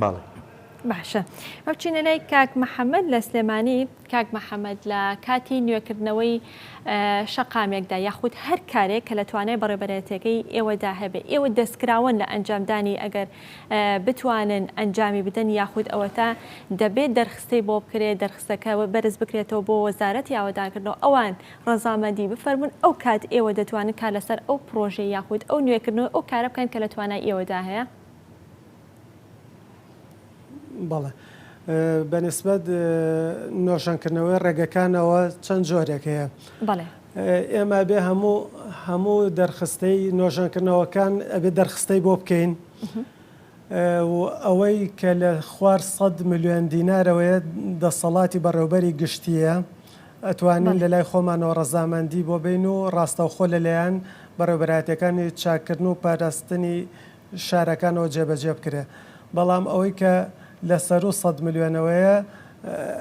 بەڵێ. باشە با بچینە لای کاک محەمەد لە سلێمانی کاک محەمەد لە کاتی نوێکردنەوەی شەقامێکدا یاخود هەر کارێک کە لە توانای بەڕێبەرێتەکەی ئێوەدا هەبێ ئێوە دەستکراوەن لە ئەنجامدانی ئەگەر بتوانن ئەنجامی بدەن یاخود ئەوەتا دەبێت دەرخستەی بۆ بکرێت دەرخستەکە بەرز بکرێتەوە بۆ وەزارەتی ئاوەدانکردنەوە ئەوان ڕەزامەندی بفەرمون ئەو کات ئێوە دەتوانن کار لەسەر ئەو پرۆژەی یاخود ئەو نوێکردنەوە ئەو کارە بکەن کە لە توانای ئێوەدا هەیە بەڵێ بە نسبەت نۆژەن کردنەوەی ڕێگەکانەوە چەند جۆرێک هەیە بەڵێ ئێمە بێ هەموو هەموو دەرخستەی نۆژەنکردنەوەکان ئەبێ دەرخستەی بۆ بکەین ئەوەی کە لە خوار 100 میلیۆن دینارەوەیە دەسەڵاتی بەڕێوبەری گشتیە ئەتوانین لە لای خۆمانەوە ڕەزامەندی بۆ بین و ڕاستەوخۆ لەلایەن بەڕێبەراتەکانی چاکردن و پاراستنی شارەکانەوە جێبەجێ بکرێ بەڵام ئەوەی کە لە سەروو سەد ملیۆنەوەیە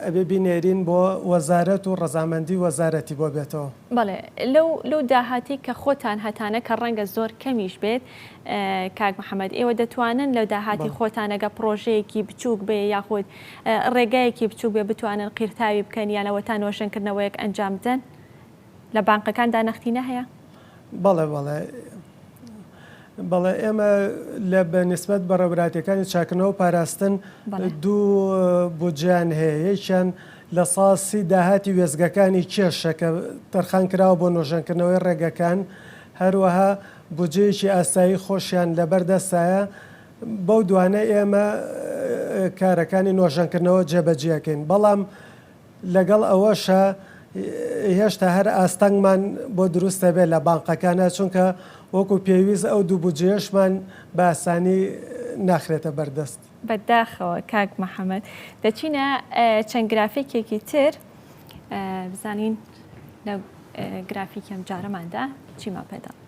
ئەبێ بینێرین بۆ وەزارەت و ڕەزامەندی وەزارەتی بۆ بێتەوە. بەڵێ لەو لەو داهاتی کە خۆتان هەتانە کە ڕەنگە زۆر کەمیش بێت کاک محمد ئێوە دەتوانن لە داهاتی خۆتان ئەگە پڕۆژەیەکی بچووک بێ یاخود ڕێگایەکی بچووک بێ بتوانن قیرتاوی بکەن یان ئەوەتا نۆژەنکردنەوەیەک ئەنجام بدەن؟ لە بانقەکاندا نەختینە هەیە؟ بەڵێ بەڵێ بەڵێ ئێمە لە بە نسبەت بە ڕێبراتەکانی چاکنەوە پاراستن دوو بودجیان هەیە یەکیان لە ساسی داهاتی وێزگەکانی کێشە کە تەرخان کراوە بۆ نۆژەنکردنەوەی ڕێگەکان هەروەها بودجەیەکی ئاسایی خۆشیان لەبەردەستایە بەو دوانە ئێمە کارەکانی نۆژەنکردنەوە جێبەجیەکەین بەڵام لەگەڵ ئەوەشا هێشتا هەر ئاستەنگمان بۆ دروست دەبێت لە بانقەکانا، چونکە وەکو پێویست ئەو دوو بودجەیەشمان بە ئاسانی ناخرێتە بەردەست. بەداخەوە کاک محمد. دەچینە چەند گرافیکێکی تر بزانین لە گرافیکی ئەمجارەماندا چیمان پێ دەڵێت.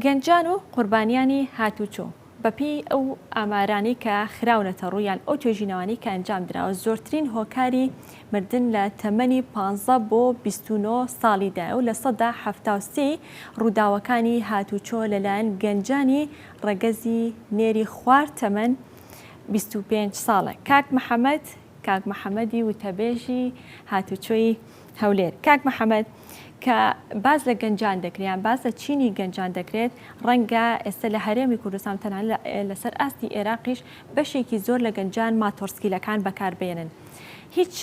گەنجان و قوربانیانی هاتوچۆ. بەپێی ئەو ئامارانەی کە خراونەتە ڕوو یان ئەو توێژینەوانەی کە ئەنجام دراوە زۆرترین هۆکاری مردن لە تەمەنی پانزە بۆ بیست و نۆ ساڵیدایە و لە سەدا حەفتا و سێ ی ڕووداوەکانی هاتووچۆ لەلایەن گەنجانی ڕەگەزی نێری خوار تەمەن بیست و پێنج ساڵە کاک محەمەد کاک محەمەدی وتەبێژی هاتووچۆی هەولێر، کاک محەمەد کە باس لە گەنجان دەکرێت یان باس لە چینی گەنجان دەکرێت، ڕەنگە ئێستە لە هەرێمی کوردستان و تەنانەت لە لەسەر ئاستی ئێراقیش بەشێکی زۆر لە گەنجان ماتۆڕسکیلەکان بەکار بێنن. هیچ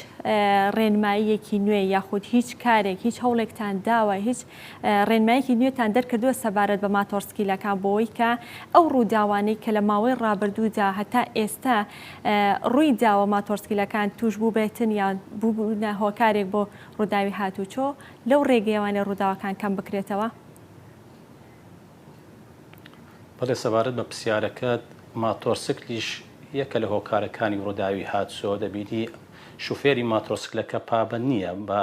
ڕێنماییەکی نوێ یاخود هیچ کارێک هیچ هەوڵێکتان داوە هیچ ڕێنمایەکی نوێتان دەرکردووە سەبارەت بە ماتۆڕسکیلەکان بۆی کە ئەو ڕووداوانەی کە لە ماوەی ڕابردوودا هەتا ئێستا ڕوویداوە ماتۆڕسکیلەکان تووشبووبێتن یان بووبوونە هۆکارێک بۆ ڕووداوی هاتووچۆ، لەو ڕێگەیەوانە ڕووداوەکان کەمبکرێتەوە؟ بەڵێ، سەبارەت بە پرسیارەکەت، ماتۆڕسکلیش یەکە لە هۆکارەکانی ڕووداوی هاتووچۆ، دەبینی شوفێری ماتۆڕسکلەکە پابەند نییە بە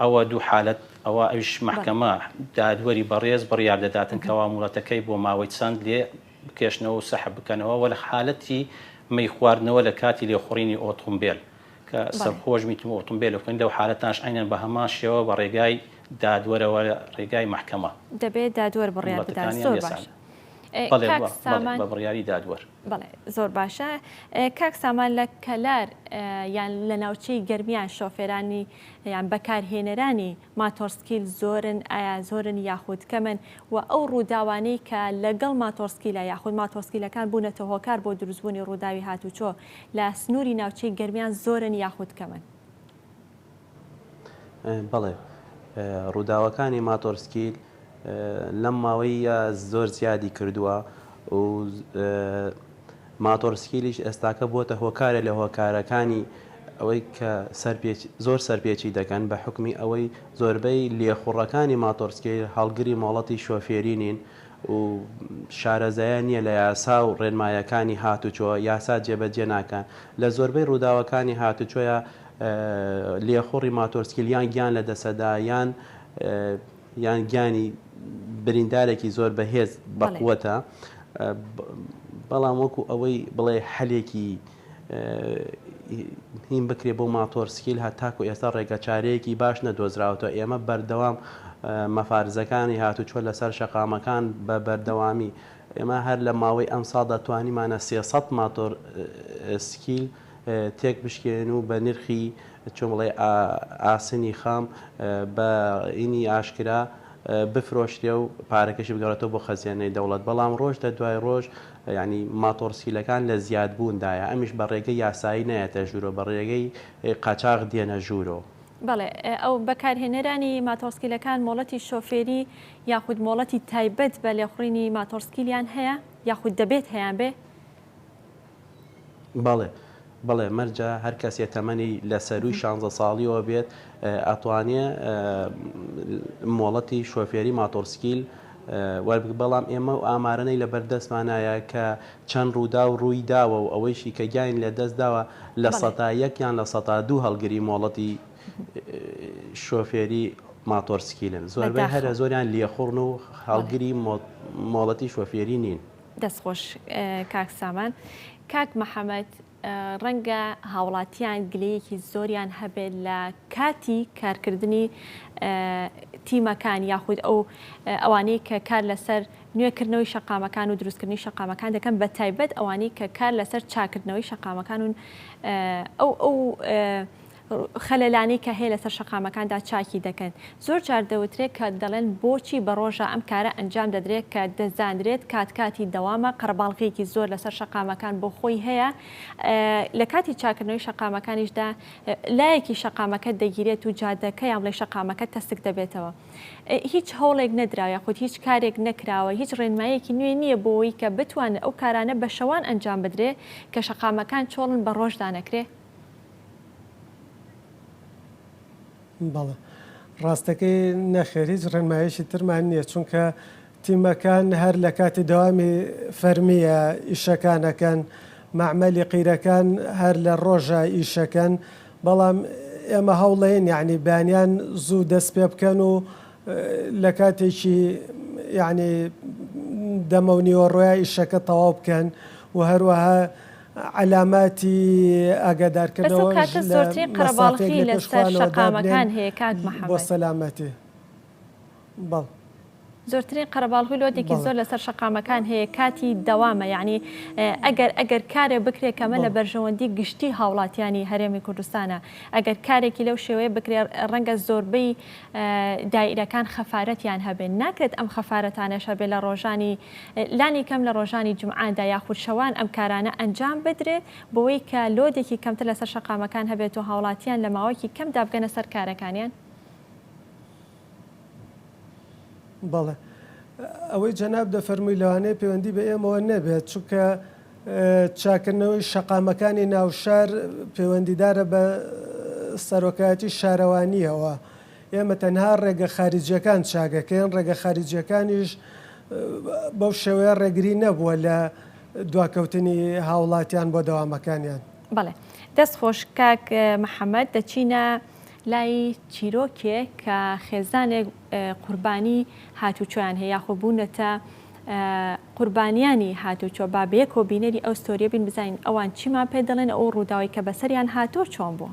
ئەوە دوو حالەت ئەوە ئەویش مەحکەمە دادوەری بەڕێز بڕیار دەداتن کەوا مۆڵەتەکەی بۆ ماوەی چەند لێ بکێشنەوە و سەحب بکەنەوە وە لە حالەتی مەی خواردنەوە لە کاتی لێخوڕینی ئۆتۆمبێل کە سەرخۆش میت و ئۆتۆمبێل بخوێن لەو حالەتانش عەینەن بە هەمان شێوە بە ڕێگای دادوەرەوە لە ڕێگای مەحکەمە دەبێ دادوەر بڕیار بدات زۆر باشە کاک سامان. بەڵێ زۆر باشە کاک سامان لە کەلار یان لە ناوچەی گەرمیان شۆفێرانی یان بەکارهێنەرانی ماتۆڕسکیل زۆرن ئایا زۆرن یاخود کەمن و ئەو ڕووداوانەی کە لەگەڵ ماتۆڕسکیلە یاخود ماتۆڕسکیلەکان بوونەتە هۆکار بۆ دروستبوونی ڕووداوی هاتوچۆ لە سنووری ناوچەی گەرمیان زۆرن یاخود کەمن؟ بەڵێ ڕووداوەکانی ماتۆڕسکیل لەم ماوەییە زۆر زیادی کردووە و ماتۆڕسکیلیش ئێستاکە بۆتە هۆکارێ لە هۆکارەکانی ئەوەی کە زۆر سەرپێچی دەکەن بە حوکمی ئەوەی زۆربەی لێخوڕەکانی ماتۆڕسکیل هەڵگری مۆڵەتی شۆفێری نین و شارەزایان نییە لە یاسا و ڕێنمایەکانی هاتوچۆ یاسا جێبەجێ ناکەن لە زۆربەی ڕووداوەکانی هاتوچۆیە لێخوڕی ماتۆرسکیلیان گیان لەدەسەدا یان یان گیانی بریندارێکی زۆر بەهێز بەقوەتە بەڵام وەکو ئەوەی بڵێ حەلێکی هیم بکرێ بۆ ماتۆر سکیل هە تاکو ئێستا ڕێگەچارەیەکی باش نەدۆزراوەوە ئێمە بەردەوام مەفارزەکانی هاتو چۆن لەسەر شەقامەکان بە بەردەوامی ئێمە هەر لە ماوەی ئەم ساڵدا توانیمانە سێسە ماتۆر سکیل تێک بشکێنن و بە نرخی چۆن بڵێ ئاسنی خام بە ینی ئاشکرا بفرۆشرێ و پارەکەشی بگەڕێتەوە بۆ خەزێنەی دەوڵەت بەڵام ڕۆژ لە دوای ڕۆژ یانی ماتۆڕسکیلەکان لە زیاد بووندایە ئەمیش بە ڕێگەی یاسایی نایەتە ژوورۆ بە ڕێگەی قاچاغ دێنە ژوورۆ. بەڵێ ئەو بەکارهێنەرانی ماتۆڕسکیلەکان مۆڵەتی شۆفێری یاخود مۆڵەتی تایبەت بە لێخوڕینی ماتۆڕسکیلیان هەیە یاخود دەبێت هەیانبێ؟ بەڵێ بەڵێ مەرجە هەر کەسێ تەمەنی لە سەرووی شانزە ساڵیەوە بێت ئەتوانێ مۆڵەتی شۆفێری ماتۆڕسکیل وەربگ بەڵام ئێمە و ئامارەی لە بەردەستمانایە کە چەند ڕوودا و ڕووی داوە و ئەوەیشی کە گیاین لە دەست داوە لە سەتا یەک یان لە سەتا دوو هەڵگری مۆڵەتی شۆفێری ماتۆڕسکیلن زۆربەی هەرە زۆریان لێخوڕن و هەڵگری مۆڵەتی شۆفێری نین. دەست خۆش کاک سامان کاک محەمەد ڕەنگە هاوڵاتیان گلەیەکی زۆریان هەبێت لە کاتی کارکردنی تیمەکان یاخود ئەو ئەوانەی کە کار لەسەر نوێکردنەوەی شەقامەکان و دروستکردنی شەقامەکان دەکەن بە تایبەت ئەوانەی کە کار لەسەر چاکردنەوەی شەقامەکان و ئەو ئەو خەلەلانەی کە هەیە لەسەر شەقامەکاندا چاکی دەکەن. زۆر جار دەوترێت کە دەڵێن بۆچی بە ڕۆژە ئەم کارە ئەنجام دەدرێت کە دەزانرێت کات کاتی دەوامە قەرەباڵغیەکی زۆر لەسەر شەقامەکان بۆ خۆی هەیە لە کاتی چاکردنەوەی شەقامەکانیشدا لایەکی شەقامەکە دەگیرێت و جادەکە یان بڵێ شەقامەکە تەسک دەبێتەوە هیچ هەوڵێک نەدراوە یاخود هیچ کارێک نەکراوە هیچ ڕێنمایەکی نوێ نییە بۆی کە بتوانن ئەو کارانە بە شەوان ئەنجام بدرێ کە شەقامەکان چۆڵن بە ڕۆژدا نەکرێ بەڵێ ڕاستەکەی نەخێر هیچ ڕێنمایشی ترمان نییە چونکە تیمەکان هەر لە کاتی دەوامی فەرمیە ئیشەکانەکەن معمەلی قیرەکان هەر لە ڕۆژە ئیشەکەن بەڵام ئێمە هەوڵەیەن یعنی بەیانیان زوو دەست پێ بکەن و لە کاتێکی یعنی دەمە و نیوەڕۆیا ئیشەکە تەواو بکەن و هەروەها عەلاماتی ئاگادارکردنەوەش لە مەسافەیەک لە پێش خوانەوە دابنێن بۆ سەلامەتی. زۆرترین قەرەباڵغی لۆدێکی زۆر لەسەر شەقامەکان هەیە کاتی دەوامە یەعنی ئەگەر ئەگەر کارێ بکرێت کەمە لە بەرژەوەندی گشتی هاوڵاتیانی هەرێمی کوردستانە ئەگەر کارێکی لەو شێوەیە بکرێت ڕەنگە زۆربەی دایرەکان خەفارەتیان هەبێ، ناکرێت ئەم خەفارەتانەش هەبێ لە ڕۆژانی لانی کەم لە ڕۆژانی جومعەدا یاخود شەوان ئەم کارانە ئەنجام بدرێت بەوەی کە لۆدێکی کەمتر لەسەر شەقامەکان هەبێت و هاوڵاتیان لە ماوەکی کەمدا بگەنە سەر کارەکانیان؟ بەڵێ ئەوەی جەناب دەفەرمووی لەوانەیە پەیوەندی بە ئێمەوە نەبێت چونکە چاککردنەوەی شەقامەکانی ناوشار پەیوەندیدارە بە سەرۆکایەتی شارەوانییەوە، ئێمە تەنها ڕێگە خاریجییەکان چاکدەکەین، ڕێگە خاریجییەکانیش بەو شێوەیە ڕێگری نەبووە لە دواکەوتنی هاوڵاتیان بۆ دەوامەکانیان. بەڵێ دەست خۆش کاک محمد دەچینە. لای چیرۆکێک کە خێزانێک قوربانی هاتوچۆیان هەیە یاخۆ بوونەتە قوربانیانی هاتوچۆ با بەیەکەوە بینەری ئەو ستۆریە بین بزانین ئەوان چیمان پێ دەڵێن ئەو ڕووداوی کە بەسەریان هاتۆ چۆن بوو.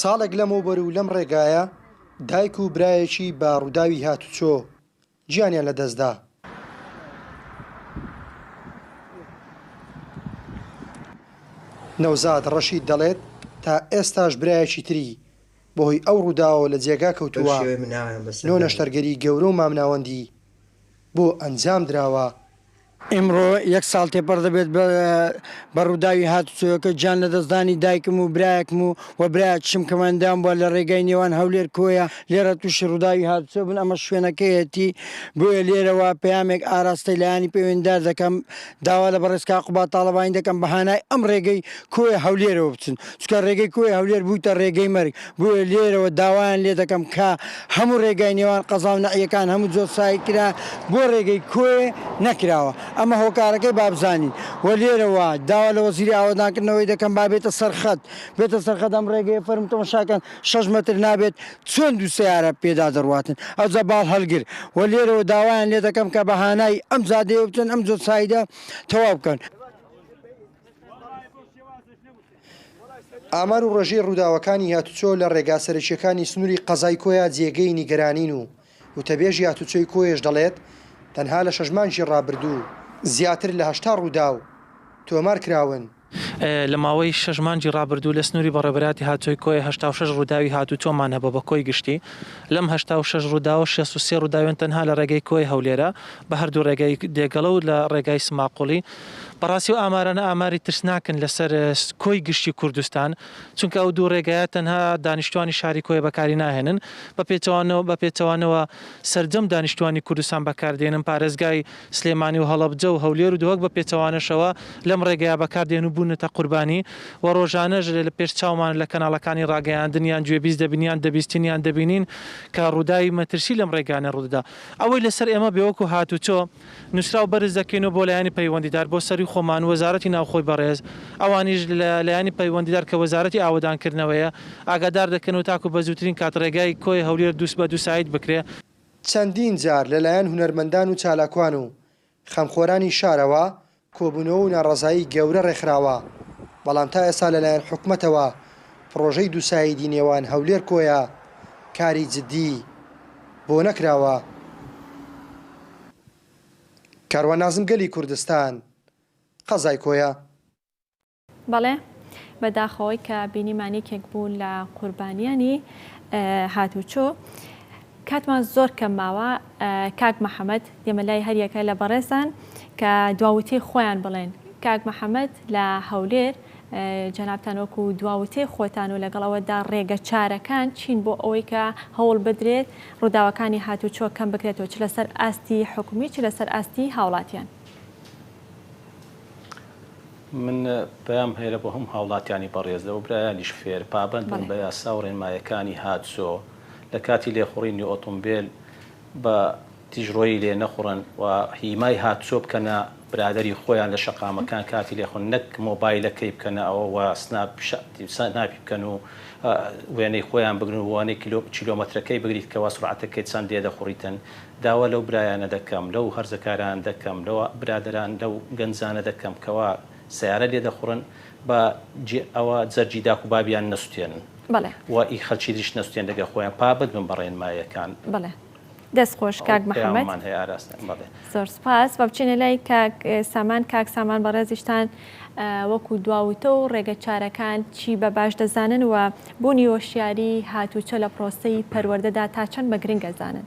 ساڵێک لەمەوبەر و لەم ڕێگایە دایک و برایەکی بە ڕووداوی هاتوچۆ گیانیان لە دەست دا. نەوزاد ڕەشید دەڵێت، تا ئێستاش برایەکی تری بەهۆی ئەو ڕووداوەوە لە جێگا کەوتووە، نۆ نەشتەرگەری گەورە و مامناوەندی بۆ ئەنجامدراوە. ئیمڕۆ یەک ساڵ تێپەڕ دەبێت بە ڕووداوی هاتوچۆیەکە، گیان لەدەستدانی دایکم و برایەکم و و برایەکیشم کە ماندویان بووە لە ڕێگای نێوان هەولێر کۆیە، لێرە تووشی ڕووداوی هاتوچۆ بن، ئەمە شوێنەکەیەتی، بۆیە لێرەوە پەیامێک ئاراستەی لایەنی پەیوەندیدار دەکەم، داوا لە بەڕێز کاک قوباد تاڵەبانی دەکەم بە هانای ئەم ڕێگەی کۆیە هەولێرەوە بچن، چونکە ڕێگەی کۆیە هەولێر بوویتە ڕێگەی مەرگ. بۆیە لێرەوە داوایان لێ دەکەم کە هەموو رێگای نێوان قەزا و نەعیەکان هەموو جۆر سایر کرا بۆ رێگەی کۆیێ نەکراوە ئەمە هۆکارەکەی با بزانین وە لێرەوە داوا لە وەزیری ئاوەدانکردنەوەی دەکەم با بێتە سەر خەت بێتە سەر خەت ئەم رێگەیە فەرموو تەماشا کەن شەش مەتر نابێت چۆن دوو سەیارە پێدا دەڕواتن ئەوجا باڵ هەلگر وە لێرەوە داوایان لێ دەکەم کە بە هانای ئەم جادەیە بچن ئەم جۆر سایدە تەواو بکەن. ئامار و ڕێژەی ڕووداوەکانی هاتووچۆ لە ڕێگا سەرەکییەکانی سنووری قەزای کۆیە جێگەی نیگەرانین و وتەبێژی هاتووچۆی کۆیەش دەڵێت، تەنها لە شەش مانگی ڕابردوو زیاتر لە هەشتا ڕووداو تۆمار کراون. لە ماوەی شەش مانگی ڕابردوو لە سنووری بەڕێوەبەرایەتی هاتووچۆی کۆیە هەشتا و شەش ڕووداوی هاتووچۆمان هەبووە بە کۆی گشتی، لەم هەشتا و شەش ڕووداوە شێست و سێ ڕووداویان تەنها لە ڕێگەی کۆیە هەولێرە بە هەردوو ڕێگای دێگەڵە و لە ڕێگای سماقوڵی. بەڕاستی ئەو ئامارانە ئاماری ترسناکن لەسەر کۆی گشتی کوردستان، چونکە ئەو دوو ڕێگایە تەنها دانیشتوانی شاری کۆیە بەکاری ناهێنن، بە پێچەوانەوە سەرجەم دانیشتوانی کوردستان بەکاردێنن، پارێزگای سلێمانی و هەڵەبجە و هەولێر و دهۆک بە پێچەوانەشەوە لەم ڕێگایە بەکاردێن و بوونەتە قوربانی و ڕۆژانەش پێش چاومان لە کەناڵەکانی ڕاگەیاندن یان گوێبیست دەبین یان دەبیستین یان دەبینین کە ڕووداوی مەترسی لەم ڕێگایانە ڕوودەدا ئەوەی لەسەر ئێمە بێ وەکو هاتوچۆ نوسراو بەرز دەکەینەوە بۆ لایەنی پەیوەندیدار بۆ سەروی خۆمان و وەزارەتی ناوخۆی بەڕێز، ئەوانیش لە لایەنی پەیوەندیدار کە وەزارەتی ئاوەدان کردنەوەیە ئاگادار دەکەنەوە تاکو بە زووترین کات ڕێگای کۆیە هەولێر دووس بە دوو سایت بکرێ. چەندین جار لە لایەن هونەرمەندان و چالاکوان و خەمخۆرانی شارەوە کۆبوونەوە و ناڕەزایی گەورە ڕێکخراوە، بەڵام تا ئێستا لەلایەن حکومەتەوە پڕۆژەی دووسایدی نێوان هەولێر-کۆیە کاری جددی بۆ نەکراوە. کاروان نازم گەلی کوردستان، قەزای کۆیە. بەڵێ بەداخەوەی کە بینیمان یەکێک بوو لە قوربانیانی هاتوچۆ کاتمان زۆر کەم ماوە کاک محەممەد ئێمە لای هەریەکە لە بەڕێزان کە دواوتەی خۆیان بڵێن کاک محەممەد لە هەولێر جەنابان وەکو دواوتەی خۆتان و لەگەڵ ئەوەدا ڕێگە چارەکان چین بۆ ئەوەی کە هەوڵ بدرێت ڕووداوەکانی هاتوچۆ کەم بکرێتەوە چ لەسەر ئاستی حکومی چ لەسەر ئاستی هاوڵاتیان. من پەیام هەیە بۆ هەموو هاوڵاتیانی بەڕێز لەوە برایانیش فێر پابەند بن بە یاسا و ڕێنمایەکانی هاتسۆ لە کاتی لێخوڕینی ئۆتۆمبێل بە تیژڕۆیی لێ نەخوڕن و هیمای هاتسۆ بکەنە برادەری خۆیان لە شەقامەکان کاتی لێخوڕین نەک مۆبایلەکەی بکەنە ئەوە و سناپ سناپی بکەن و وێنەی خۆیان بگرن و وێنەی کیلۆمەترەکەی بگریت کەوا سورعەتەکەی چەند لێ دەخوڕیتن داوا لەو برایانە دەکەم، لەو هەرزەکاران دەکەم، لەو برادەران، لەو گەنجانە دەکەم کەوا سەیارە لێ دەخوڕن، با جێ ئەوە جەرگی داک و بابیان نەسوتێنن بەڵێ. و ئی خەلکی دریش نەسوتێن لەگەر خۆیان، پابەند بن بە ڕێنماییەکان. بەڵێ. دەست خۆش کاک ئەو محەمەد. پەیامەمان هەیە ئاراستەن. بەڵێ. زۆر سوپاس. با بچینە لای کاک سامان. کاک سامان بەڕێزیشتان وەکو دواوتە و ڕێگە چارەکان چی بە باش دەزانن و بوونی هۆشیاری هاتووچە لە پرۆسەی پەروەردەدا تا چەند بە گرنگ ئەزانن؟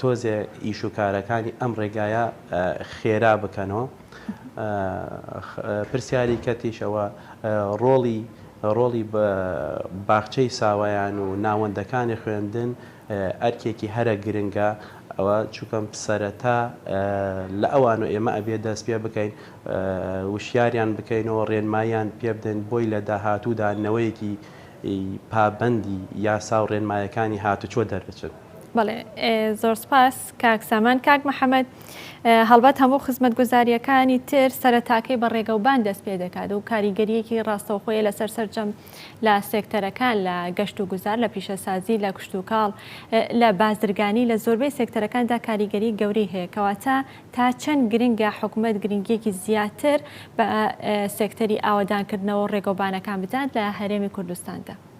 تۆزێ ئیش و کارەکانی ئەم ڕێگایە خێرا بکەنەوە. پرسیاری کەتیش ئەوە ڕۆڵی ڕۆڵی باخچەی ساوایان و ناوەندەکانی خوێندن ئەرکێکی هەرە گرنگە ئەوە چوکەم سەرەتا لە ئەوان و ئێمە ئەبێ دەست پێ بکەین وشیاریان بکەینەوە ڕێنماییان پێ بدەین بۆی لە داهاتوودا نەوەیەکی پابەندی یاسا و ڕێنمایەکانی هاتوچۆ دەربچن. بەڵێ زۆر سپاس کاک سامان کاک محەممەد هەڵبەت هەموو خزمەت گوزاریەکانی تر سەرتاکەی بە ڕێگەوبان دەست پێ دەکات و کاریگەریەکی ڕاستەوخۆیە لەسەر سەرجەم لە سێکتەرەکان لە گەشت و گوزار لە پیشەسازی لە کشتوکاڵ لە بازرگانی لە زۆربەی سێکتەرەکاندا کاریگەری گەوری هەیە کەواتە تا چەند گرنگە حکومت گرنگیەکی زیاتر بە سێکتەری ئاوەدانکردنەوە ڕێگەوبانەکان بدات لە هەرێمی کوردستاندا.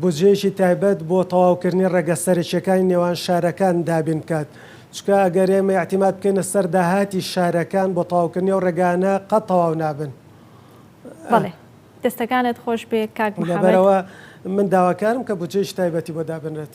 بودجەیەکی تایبەت بۆ تەواوکردنی ڕێگە سەرەکییەکانی نێوان شارەکان دابین بکات، چونکە ئەگەر ئێمە ئیعتیماد بکەینە سەر داهاتی شارەکان بۆ تەواوکردنی ئەو ڕێگانە قەت تەواو نابن. بەڵێ دەستەکانت خۆشبێ کاک محمد. لەبەرئەوە من داواکارم کە بودجەیەکی تایبەتی بۆ دابنرێت.